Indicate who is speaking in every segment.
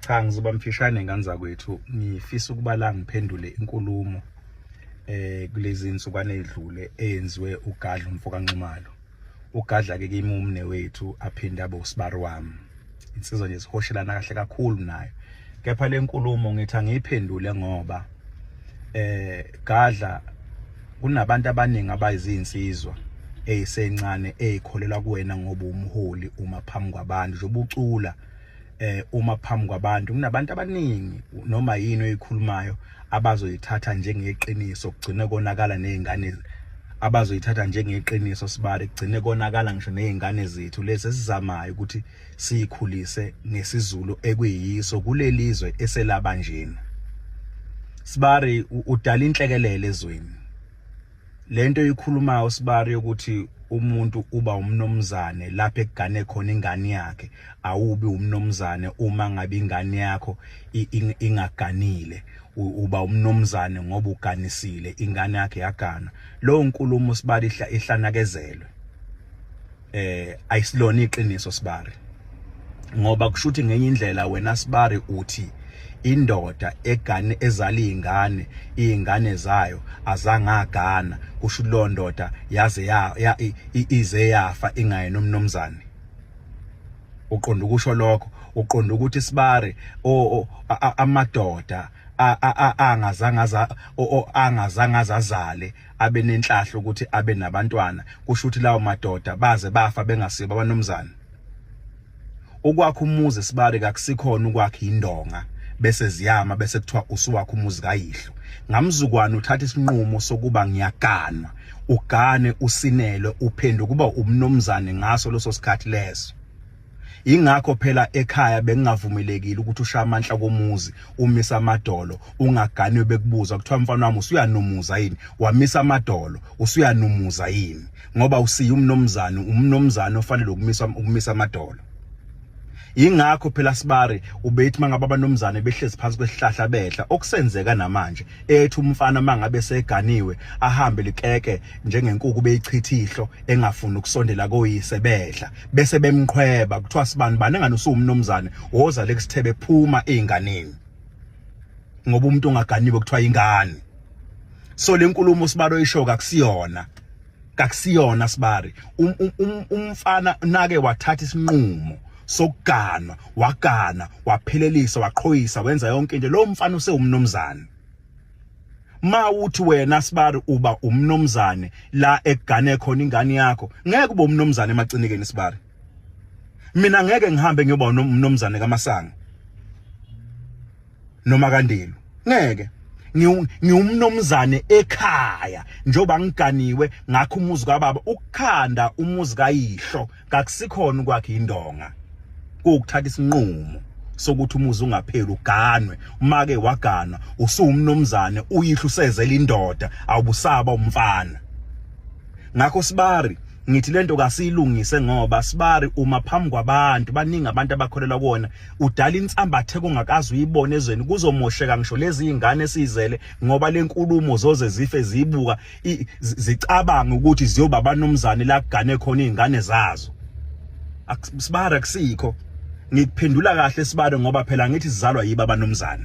Speaker 1: cha ngizoba mfishane ngane zakwethu ngifisa ukuba la ngiphendule inkulumo eh kulezi insukwane edlule eyenziwe ugadla umfo kanxumalo ugadla ke kimumne wethu aphinde abe usibari wami insizwa nje sihoshelana kahle kakhulu nayo kepha lenkulumo ngithi angiyiphendule ngoba eh gadla kunabantu abaningi abayizinsizwa eyisencane eyikholelwa kuwena ngoba umholi uma phambi kwabantu njengoba ucula eh uma phambi kwabantu kunabantu abaningi noma yini oyikhulumayo abazoyithatha njengeqiniso kugcine konakala nezingane abazoyithatha njengeqiniso sibari kugcine konakala ngisho nezingane zethu lezi esizamayo ukuthi siyikhulise ngesizulu ekuyiso kulelizwe eselaba njena sibari udala inhlekelele ezweni lento ikhuluma usibari ukuthi umuntu uba umnomzane lapho ekugane khona ingane yakhe awubi umnomzane uma ngabe ingane yakho ingaganile uba umnomzane ngoba uganisile ingane yakhe yagana lowo nkulumo sibali ihlanakezelwe eh ayisilona iqiniso sibari ngoba kushuthi ngenye indlela wena sibari uthi indoda egane ezala izingane izingane zayo azangagana kusho lo ndoda yaze ya ize yafa ingaye nomnomzane uqonda ukusho lokho uqonda ukuthi sibari amadoda angazangaza angazangaza azale abe nenhlahla ukuthi abe nabantwana kusho ukuthi lawo madoda baze bafa bengasiba abanomzana ukwakha umuzi sibari kakusikhona ukwakha indonga bese ziyama bese kuthiwa usuwakha umuzi kayihlo ngamzukwana uthatha isinqumo sokuba ngiyaganwa ugane usinele uphenduka kuba umnomzane ngaso leso sikhathi leso Ingakho phela ekhaya bengingavumelekile ukuthi ushaya amanhla komuzi umisa amadolo ungaganwe bekubuza kuthiwa mfana wami usuyanumuza yini wamisa amadolo usuyanumuza yini ngoba usiya umnomzana umnomzana ofanele ukumisa ukumisa amadolo ingakho phela sibari ubethi mangabe abanomzane behlezi phansi kwesihlahla bedla okusenzeka namanje ethi umfana mangabe seganiwe ahambe likeke njengenkuku beyichithihlo engafuni ukusondela koyise bedla bese bemqhweba kuthiwa sibani bani engane usuwumnomzane woza lekusithebe phuma einganeni ngoba umuntu ongaganiwe kuthiwa ingane so lenkulumo sibalo isho kakusiyona kakusiyona sibari um, um, um, umfana nake wathatha isinqumo sokuganwa wagana waphelelisa waqhoyisa wenza yonke into lo mfana usewumnomzana mawuthi wena sibari uba umnomzane la egane khona ingane yakho ngeke ube umnomzane emacinikeni sibari mina ngeke ngihambe ngiyoba umnomzane kamasanga noma kandelu ngeke ngiwumnomzane ekhaya njengoba ngiganiwe ngakho umuzi kababa ukukhanda umuzi kayihlo kakusikhona ukwakhe indonga kuwukuthatha isinqumo sokuthi umuzi ungapheli uganwe umake waganwa usuwumnomzane uyihlo usezela indoda awubusaba umfana ngakho sibari ngithi lento kasiyilungise ngoba sibari uma phambi kwabantu baningi abantu abakholelwa kuona udala insambathe kungakazi uyibone ezweni kuzomosheka ngisho lezi ingane sizele ngoba lenkulumo zoze zife zibuka zicabanga ukuthi ziyoba abanomzane la kugane khona izingane zazo sibara kusikho ngikuphendula kahle sibare ngoba phela ngithi sizalwa yiba abanomzane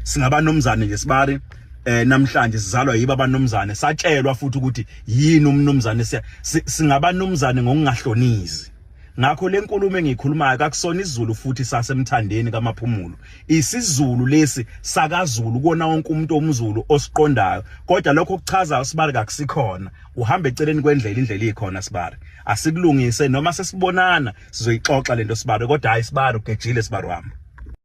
Speaker 1: singabanomzane nje sibare eh namhlanje sizalwa yiba abanomzane satshelwa futhi ukuthi yini umnumzane siya singabanumzane ngokungahlonizi Ngakho lenkulumo engiyikhulumayo kakusona isiZulu futhi sasemthandeni kaMaphumulo. IsiZulu lesi sakaZulu kona wonke umuntu omZulu osiqondayo. Kodwa lokho kuchaza uSibari kakusikhona. Uhamba eceleni kwendlela indlela ikhona Sibari. Asikulungise noma sesibonana sizoyixoxa lento Sibari kodwa hayi Sibari ugejile Sibari wami.